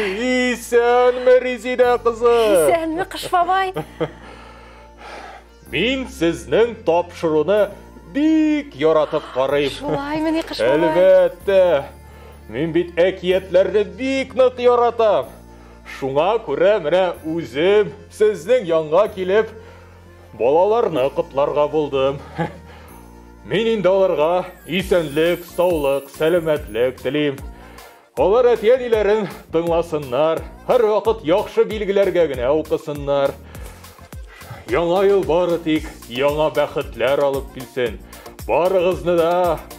Исәнме, Резидә кызы! Исәнме, Кыш бабай! Мин сезнең тапшыруны бик яратып карыйм. Шулай мени, Кыш бабай? Әлбәттә! Мин бит әкиятләрне бик нык яратам. Шуңа күрә менә үзем сезнең янга килеп, Балаларны котларга булдым. Мин инде аларга исәнлек, саулык, сәламәтлек телим. Алар әти-әниләрен тыңласыннар, һәрвакыт яхшы билгеләргә генә укысыннар. Яңа ел бары тик яңа бәхетләр алып килсен. Барыгызны да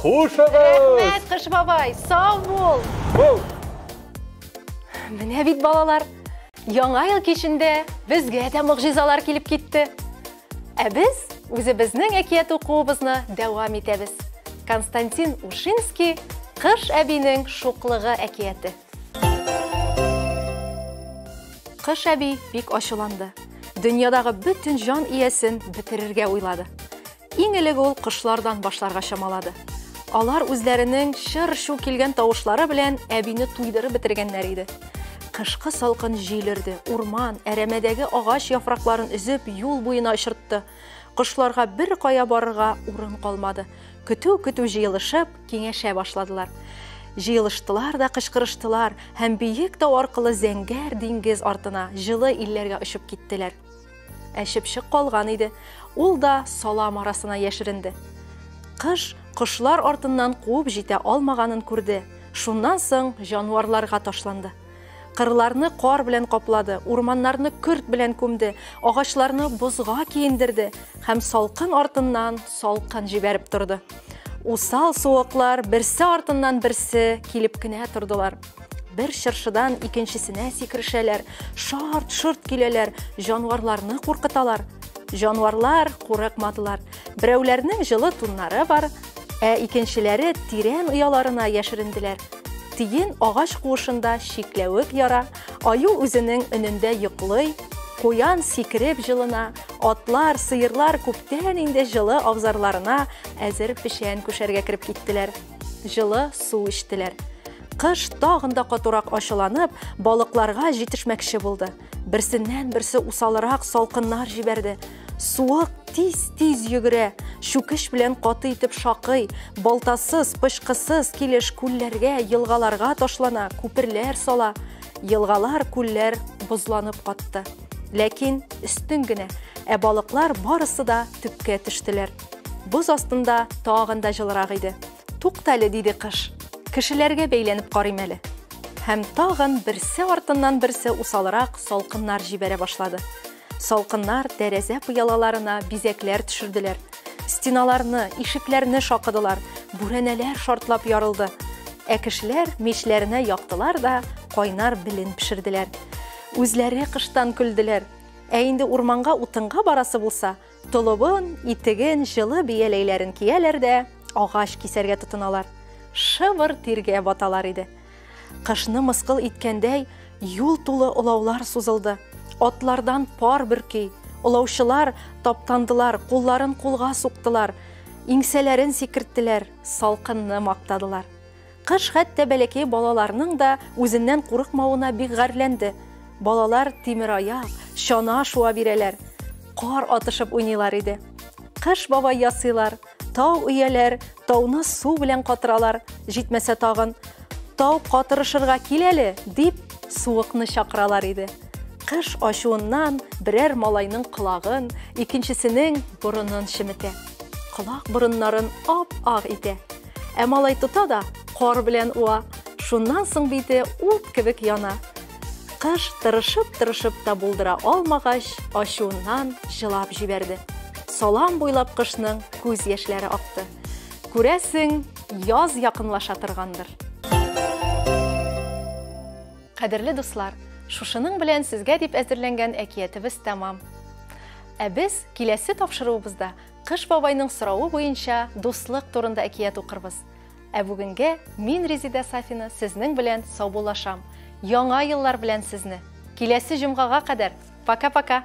Хушыгыз! Рәхмәт, Кыш бабай, сау бул! Бул! Менә бит балалар, яңа ел кичендә безгә дә могҗизалар килеп китте. Ә без үзебезнең әкият укуыбызны дәвам итәбез. Константин Ушинский Кыш әбинең шуклыгы әкияте. Кыш әби бик ачуланды. Дөньядагы бөтен җан иясен бетерергә уйлады. Иң элек ул кошлардан башларга чамалады. Алар үзләренең чыр-чу килгән тавышлары белән әбине туйдырып бетергәннәр иде. Кышкы салкын җил өрде, урман, әрәмәдәге агач яфракларын өзеп, юл буена очыртты. Кошларга бер кая барырга урын калмады. Көтү-көтү җыелышып, киңәшә башладылар. Җыелыштылар да кычкырыштылар һәм биек тау аркылы зәңгәр диңгез артына, җылы илләргә очып киттеләр. Ә чыпчык калган иде. Ул да салам арасына яшеренде. Кыш кошлар артыннан куып җитә алмаганын күрде. Шуннан соң җанварларга ташланды. Кырларны кар белән каплады, урманнарны көрт белән күмде, агачларны бозга киендерде һәм салкын артыннан салкын җибәреп торды. Усал суыклар берсе артыннан берсе килеп кенә тордылар. Бер чыршыдан икенчесенә сикерешәләр, шарт-шорт киләләр, җанварларны куркыталар. Җанварлар курыкмадылар. Берәүләрнең җылы туннары бар, ә икенчеләре тирән ояларына яшеренделәр. Тиен агач куышында чикләвек яра, аю үзенең өнендә йоклый, куян сикереп җылына, атлар, сыерлар күптән инде җылы абзарларына әзер печән күшәргә кереп киттеләр. Җылы су эчтеләр. Кыш тагын да катурак ачыланып, балыкларга җитешмәкче булды. Берсеннән-берсе усалрак салкыннар җибәрде. Суык тиз-тиз йөгерә, чүкеш белән каты итеп шакый, балтасыз, пычкысыз килеш күлләргә, елгаларга ташлана, күперләр сала. Елгалар, күлләр бозланып катты. Ләкин өстен генә, ә балыклар барысы да төпкә төштеләр. Боз астында тагын да җылырак иде. Туктале, диде кыш. Кешеләргә бәйләнеп карыйм әле. Һәм тагын берсе артыннан берсе усалрак салкыннар җибәрә башлады. Салкыннар тәрәзә пыялаларына бизәкләр төшерделәр. Стеналарны, ишекләрне шакыдылар, бүрәнәләр шартлап ярылды. Ә кешеләр мичләренә яктылар да кайнар белен пешерделәр. Үзләре кыштан көлделәр. Ә инде урманга утынга барасы булса, Толыбын, итеген, җылы бияләйләрен кияләр дә, агач кисәргә тотыналар. Шыбыр тиргә баталар иде. Кышны мыскыл иткәндәй, юл тулы олаулар сузылды. Атлардан пар бөрки, олаучылар таптандылар, кулларын кулга суктылар, иңсәләрен сикерттеләр, салкынны мактадылар. Кыш хәтта бәләкәй балаларның да үзеннән курыкмавына бик гарьләнде. Балалар тимераяк, чана шуа бирәләр, кар атышып уйныйлар иде. Кыш бабай ясыйлар, тау өяләр, тауны су белән катыралар, җитмәсә тагын, тау катырышырга кил әле, дип, суыкны чакыралар иде. Кыш ачуыннан берәр малайның колагын, икенчесенең борынын чеметә. Колак борыннарын ап-ак итә. Ә малай тота да кар белән уа. Шуннан соң бите ут кебек яна. Кыш тырышып-тырышып та булдыра алмагач, ачуыннан жылап җибәрде. Салам буйлап кышның күз яшьләре акты. Күрәсең, яз якынлаша торгандыр. Кадерле дуслар, шушының белән сезгә дип әзерләнгән әкиятебез тәмам. Ә без киләсе тапшыруыбызда Кыш бабайның соравы буенча дуслык турында әкият укырбыз. Ә бүгенге мин Резидә Сафина сезнең белән саубуллашам. Яңа еллар белән сезне! Киләсе җомгага кадәр, пока-пока!